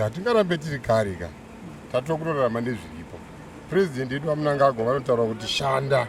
hatingarambe tiri kari ka tatova kutorarama nezviripo purezidendi yedu vamunangagwa vanotaura kuti shanda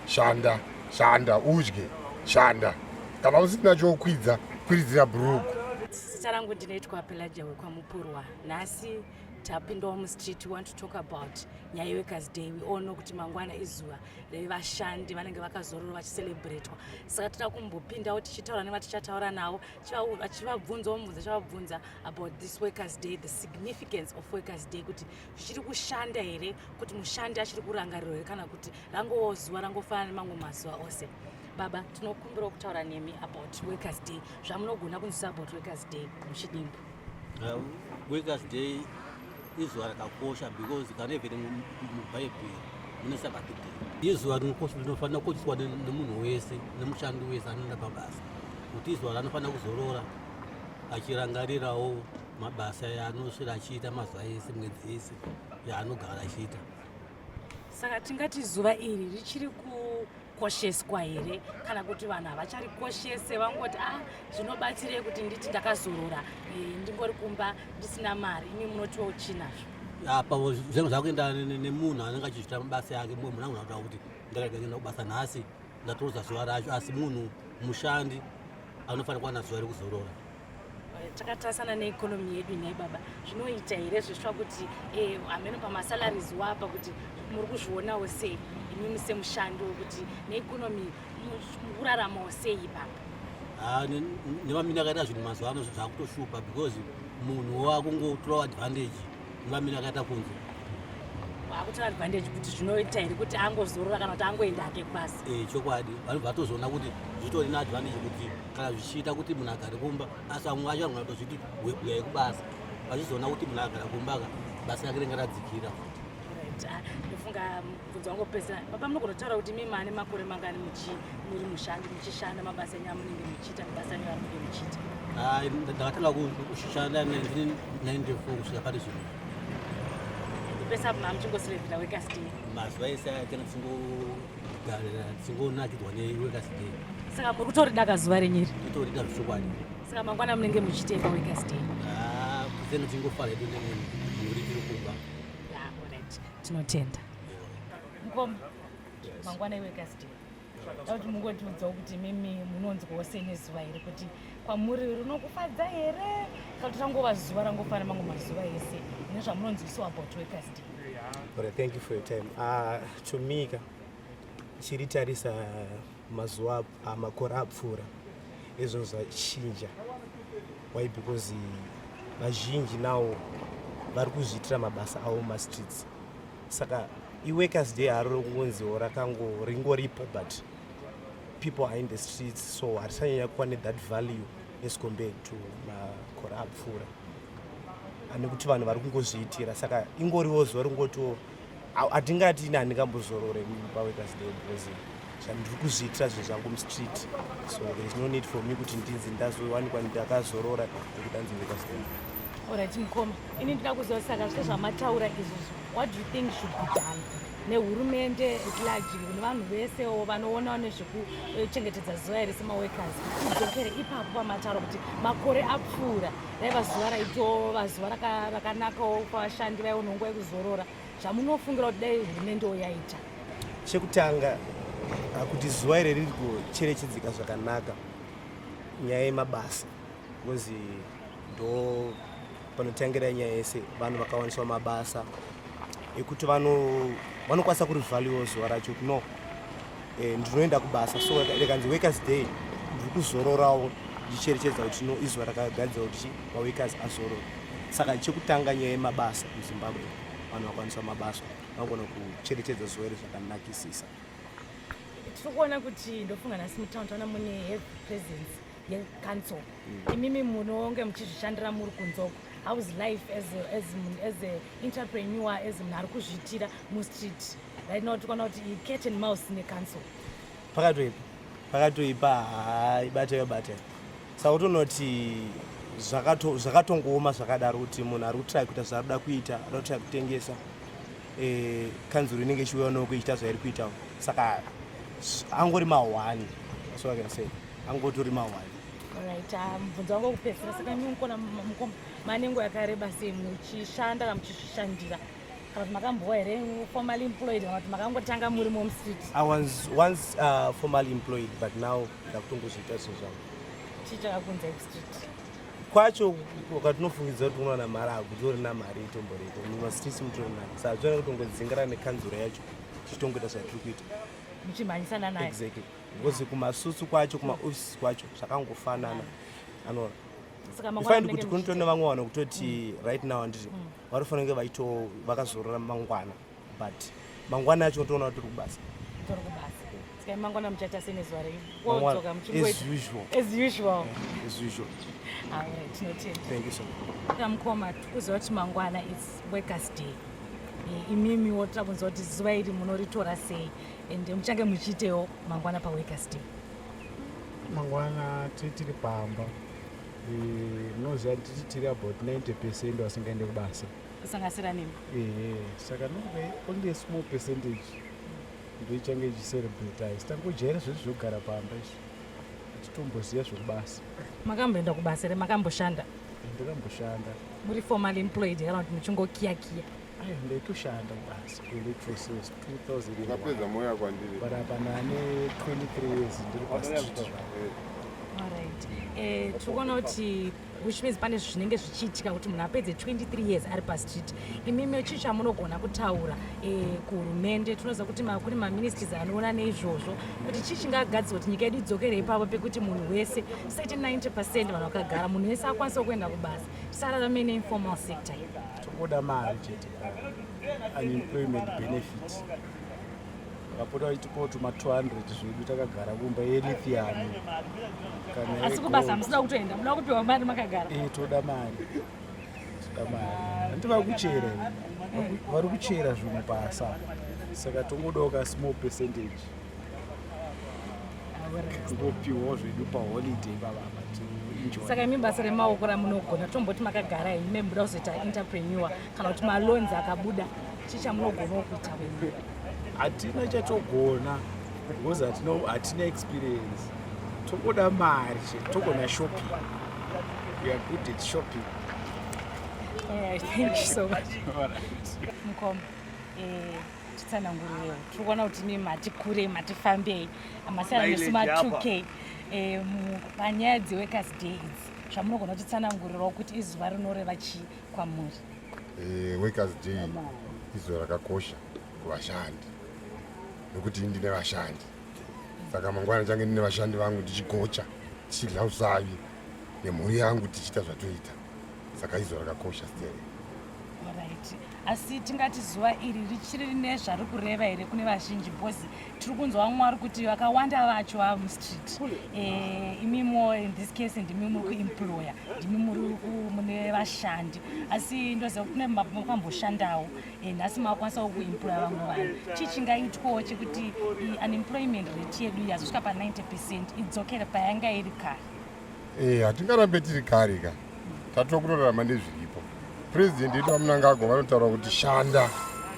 shanda shanda udye shanda kana usina chokwidza kwiridzira bhuruku zita rangu ndinoitwa pelaja wekwamupurwa nhasi tapindawo mustreet we want to talk about nyaya yeworkers day we all know kuti mangwana izuva revashandi vanenge vakazororo vachicelebratwa saka tira kumbopindawo tichitaura nevatichataura navo vachivabvunza omubvunza chavabvunza about this workers day the significance of workers day kuti zvichiri kushanda here kuti mushandi achiri kurangarirwa here kana kuti rangowo zuva rangofanana nemamwe mazuva ose baba tinokumbirawo kutaura nemi about workers day zvamunogona kunzisa about workers day muchidimbu Um, workers day izuva rakakosha because kana even mubhaibheri mune sabati day izuva rinofanira kukosheswa nemunhu wese nemushandi wese anoenda pabasa kuti izuva ranofanira kuzorora achirangarirawo mabasa yaanosvira achiita mazuva ese mwedzi yese yaanogara achiita saka tingati zuva iri richiri kukosheswa here kana kuti vanhu havacharikoshese vangoti a ah, zvinobatsirei kuti nditi ndakazorora eh, ndingori kumba ndisina mari imi munotiwo uchinazvo apa zvinhu zvakuenda nemunhu anenge achizvita mabasa yake mumwe munhu anogona kutaura kuti ndakaienda kubasa nhasi ndatorodza zuva racho asi munhu mushandi anofanira kuwana zuva rekuzorora takatarisana neekonomi yedu nhai baba zvinoita here zvisva kuti eh, hameno pamasalaries wapa kuti muri kuzvionawo sei imimi semushandi wekuti neekonomi kuraramawo sei baba ah, nevamini akaita zvinhu mazuva ano zvakutoshupa because munhu wakungotorawo advantage Dlamini akaita kunzwa akutora advantage kuti zvinoita here kuti angozorora kana kuti angoenda ake kubasa eh, chokwadi vanhu vatozoona kuti zvitori neadvantage kuti kana zvichiita kuti munhu agare kumba asi vamwe vacho vanogona kutozviti huya yekubasa vachizoona kuti munhu agara kumba ka basa rake ringaradzikira futi ah, ndofunga bvunzo wangu pesa baba munogona kutaura kuti mimi ane makore mangani muri mushandi muchishanda mabasa enyu amunenge muchiita mabasa enyu amunenge muchiita hayi ndakatanga kushanda 1994 kusvika pari zvino pesa apo mamuchingosirevhira workers day mazuva ese ayakena tingogarira tingonakidzwa neworkers day saka muri kutorida kazuva renyiri kutorida zvokwadi saka mangwana munenge muchiteka workers day ah, kuzeno tingofara hedu nemhuri tiri kumba ah, tinotenda mkoma mangwana iwe kasdei kuti mungotiudzawo kuti mimi munonzwawo sei nezuva here kuti kwamuri rinokufadza here kana kuti rangova zuva rangofana mango mazuva ese nezvamunonzwisiwa about workers day But thank you for your time. Uh, to me, chiri tarisa mazuva ah, makore apfuura ezvinhu zvachinja why because vazhinji nawo vari kuzviitira mabasa avo mumastreets saka iworkers day haro rokungonziwo rakango ringoripo but people are in the streets so harisanyanya kuva nethat value as compared to makore apfuura ane kuti vanhu vari kungozviitira saka ingoriwo zuva ringotiwo hatingati ini handingambozorore pawekers day because zvandiri kuzviitira zvinhu zvangu mustreet so there is no need for me kuti ndinzi ndazowanikwa ndakazorora nekudanzi wekers day orit mukoma ini ndina kuziva saka zve zvamataura izvozvo what do you think should be done nehurumende eclargy nevanhu vesewo vanoonawo nezvekuchengetedza zuva here semaworkers idzokere ipapo pamataura kuti makore apfuura raiva zuva raitova zuva rakanakawo kwavashandi vaiona nguva yekuzorora zvamunofungira kuti dai hurumende wo yaita chekutanga ah, kuti zuva iri riri kucherechedzeka zvakanaka nyaya yemabasa bcause ndo panotangira nyaya yese vanhu vakawaniswa mabasa yekuti vanokwanisa kuri value zuva racho kuti no eh, ndinoenda kubasa so rekanzi workers day ndiri kuzororawo ndicherechedza kuti no izuva rakagadzira kuti maworkers azorora saka chekutanga nyaya yemabasa muzimbabwe vanhu vakwanisa mabasa vagona kucherechedza zuva iri zvakanakisisa tiri kuona kuti ndofunga nhasi mutown taona mune heavy presence yecouncil mm. imimi munonge muchizvishandira muri kunzoko hows life as, as, as a entrepreneur as munhu ari kuzviitira mustreet right now tikuona kuti cat and mouse necouncil pakatoipa pakatoipa haa ibata yobata saka utonoti zvakatongooma zvakadaro kuti munhu ari kutrai kuita zvaari kuda kuita ari kutrai kutengesa eh, kanzuro inenge ichiuya unoko ichiita zvairi kuitawo saka angori mahwani so i can say angotori mahwani right ah, mubvunzo wangu wekupedzisira saka nyunkona manengo yakareba sei muchishanda kana muchishandira kana kuti makambowa here formally employed kana kuti makangotanga muri mom street i was once uh, formally employed but now ndakutongozviita zvinhu zvangu chii chakakunza ekustreet kwacho kwatinofungidza kuti unowana mari akutori na mari itomboreko mumastreets mutori nani saa zvona kutongodzingirana nekanzura yacho tichitongoita zvatiri kuita muchimhanyisana naye exactly because kumasutsu kwacho kumaoffices kwacho zvakangofanana anoona ifaindi kuti kunotoo nevamwe vanhu kutoti right now handiti mm. vanofanira kunge vaito vakazorora mangwana but mangwana yacho unotoona kuti tiri kubasa mangwana muchaita sei nezuva reidzoka muchingoitausual tinotendamukoma tikuziva kuti mangwana its workers day eh, imimi wotoda kunzwa kuti zuva iri munoritora sei ende muchange muchiitewo mangwana paworkers day mangwana tiri pamba munoziva eh, titi tiri about 90 percent vasingaende kubasa kusangasira nemi ehe saka ndokuda only a small percentage ndoichange ichicerebratize tangojaira zvese zvekugara pamba izvi atitomboziva zvekubasa makamboenda kubasa here makamboshanda ndakamboshanda muri formal employed kana kuti muchingokiyakiya ndaitoshanda basi kuelectrosis 2000 moya kwandiri but apa nane 23 years ndiri pastreet eh, tiri kuona kuti which means pane zvinenge zvichiitika kuti munhu apedze 23 years ari pastreet imimi chii chamunogona kutaura eh, kuhurumende tinoziva kuti kune maministries anoona neizvozvo kuti chii chingagadzirwa kuti nyika yedu idzokere ipapo pekuti munhu wese sati 90 percent vanhu vakagara munhu wese akwanisawo kuenda kubasa tisararame neinformal sector Tokoda mari chete unemployment benefit vakapota vachitipawo tuma 200 zvedu takagara kumba yelithiani asi kubasa musida kutoenda muda kupiwa mari makagara e toda mari toda mari hanti vakuchera vari kuchera zvinhu pasa saka tongodawo ka small percentage topiwawo zvedu paholiday baba saka imi basa remaoko ramunogona tomboti makagara henyu memuda kuzoita interpreneur kana kuti malonzi akabuda chii chamunogonawo kuita venyu hatina chatogona because hatina experience togoda mari chete togona shopping we are good at shopping All right, thank you so much. All right. Mkom. Eh. titsanangurireo tiri kuona kuti mi mati kurei mati fambei masiyana nesu ma 2k eh, panyaya dzeworkers day idzi zvamunogona kutitsanangurirao kuti izuva rinoreva chii kwamuri eh, workers day izuva rakakosha kuvashandi nokuti ndine vashandi saka mangwana ndichange ndine vashandi vangu ndichigocha tichidya usavi nemhuri yangu tichiita zvatoita saka izvo rakakosha stere right asi tingati zuva iri richiri rine zvari kureva here kune vazhinji bcause tiri kunzwa vamwe vari kuti vakawanda vacho vava mustreet eh, imimo in this case ndimi muri kuemployer ndimi muri mune vashandi asi ndoziva kuti kune makamboshandawo eh, nhasi makwanisawo kuemploya vamwe vanhu chii chingaitwawo chekuti unemployment rate yedu yazosvika pa 90 percent idzokere payanga iri kare Eh, hatingarambe tiri kare ka tatova kutorarama nezviripo president yedu vamunangagwa vanotaura kuti shanda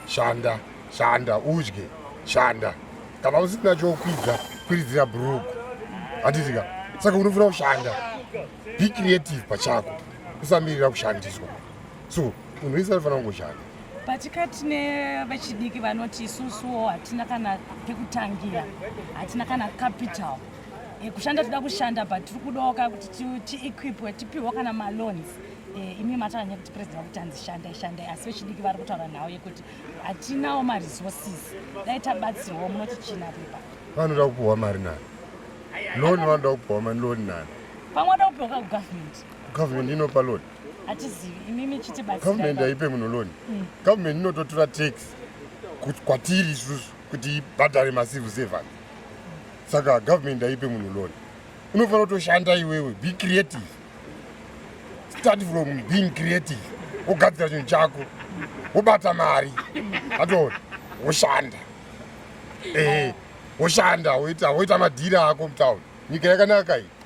shanda shanda udye shanda kana usina chokwidza kwiridzira brugu handitika saka unofanira kushanda be creative pachako usamirira kushandiswa so munhu wese anofanira kungoshanda patikati nevechidiki vanoti isusuwo hatina kana pekutangira hatina kana capital Eh, kushanda toda kushanda but tiri kudoka kuti tiequipwe tipihwa kana maloans eh, imi matanyanya kuti president vakuti hanzi shandai shandai asi vechidiki vari kutaura nhau yekuti hatinawo maresources dai tabatsirwawo munoti china pepa vanoda kupiwa mari nani loan vanoda kupiwa mari loan nani pamwe vada kupiwa ka kugovernment kugovernment inopa loan hatizivi imi michitibatsira government haipe munhu loan mm. government inototura tax kwatiri isusu kuti ibhadhare macivil servant saka government ndaipe munhu loan unofanira kutoshanda iwewe be creative start from being creative wogadzira chinhu chako wobata mari atoona woshanda ehe woshanda woita woita madhiri ako mutown nyika yakanaka iyi